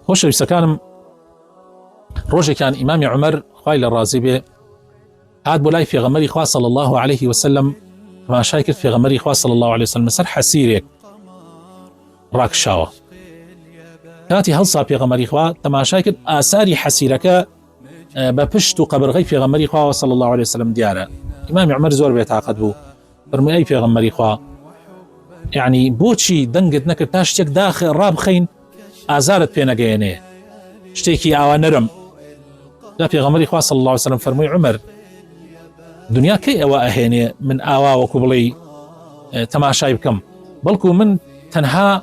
خۆشەویستەکانم ڕۆژێکان ئیمامی عمر خی لە ڕازی بێ هات بۆ لای فێغەمەری خوا صلی الله عليه وسلم ماشای کرد فێغەمەری خوا صلی الله عليه وسلم سەر حەسیرێک ڕاکشاوە کاتی هەڵسا پێغەمەری خوا تەماشای کرد ئاساری حەسیرەکە بە پشت و قەبرغی پێغەمەری خواوە صلی الله عليه وسلم دیارە ئیمامی عمر زۆر بێتاقەت بوو فەرمووی ئەی پێغەمبەری خوا یعنی بۆچی دەنگت نەکرد تا شتێک داخ ڕابخەین ئازارت پێ نەگەیەنێ شتێکی ئاوا نەرم دا پێغەمەری خوا صلی الله عليه وسلم فەرمووی عمر دنیا کەی ئەوە ئەهێنێ من ئاوا وەکو بڵێ تەماشای بکەم بەڵکو من تەنها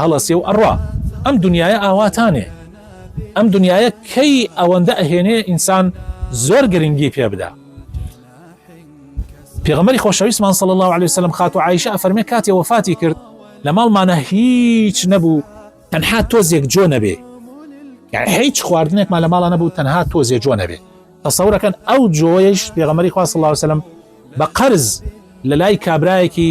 هەڵەسێ و ئەڕوا ئەم دنیایە ئاواتانێ ئەم دنیایە کەی ئەوەندە ئەهێنێ ئینسان زۆر گرنگی پێ بدا پێغمەری خۆشەویستمان صلی الله عليه وسلم خاتو عیشە ئەفەرمێ کاتێ وەفاتی کرد لە ماڵمانە هیچ نەبوو تەنها تۆزێک جۆ نەبێ یعنی هیچ خواردنێکمان لە ماڵە نەبوو تەنها تۆزێ جۆ نەبێ تەسەورەکەن ئەو جۆیش پێغمەری خوا صلی الله عليه وسلم بە قەرز لە لای کابرایەکی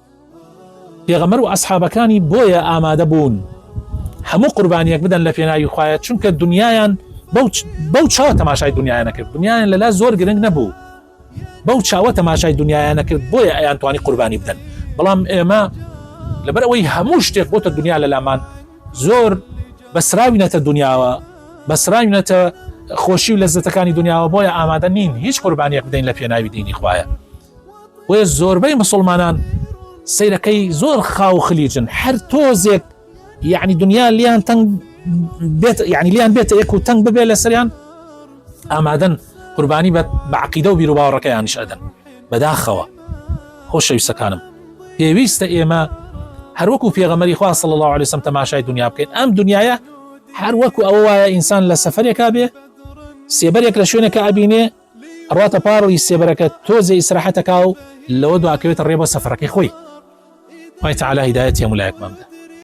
پێغەمبەر و ئەسحابەکانی بۆیە ئامادە بوون هەموو قوربانیەک بدەن لە پێناوی خوایە چونکە دنیایان بەو چاوە تەماشای دنیایانە کرد دنیایان لەلا زۆر گرنگ نەبوو بەو چاوە تەماشای دنیایانە کرد بۆیە ئەیان توانی قوربانی بدەن بەڵام ئێمە لەبەر ئەوەی هەموو شتێک بۆتە دنیا لە لامان زۆر بەسراوینەتە دنیاوە بەسراوینەتە خۆشی و لەزەتەکانی دنیاوە بۆیە ئامادە نین هیچ قوربانیەک بدەین لە پێناوی دینی خوایە بۆیە زۆربەی مسلمانان سیرەکەی زۆر خاو خلیجن هەر تۆزێک یعنی دنیا لیان تەنگ بێت یعنی لیان بێتە یەک و تەنگ ببێت لە سەریان ئامادەن قوربانی بە بەعقیدە و بیرروباوەڕەکەیانش ئەدەن بەداخەوە خۆشەویستەکانم پێویستە ئێمە هەروەکو پێغەمەری خوا صلی الله عليه وسلم تەماشای دنیا بکەین ئەم دنیاە هەر وەکو ئەوە وایە ئینسان لە سەفرێکا بێ سێبەرێک لە شوێنەکە ئەبینێ ئەڕواتە پاڕی سێبەرەکە تۆزێ ئیسراحەت ئەکاو لەوە دواکەوێتە ڕێ بۆ سەفەرەکەی خۆی. خوای تەعالا هیدایەتی هەموولایەکمان بدا.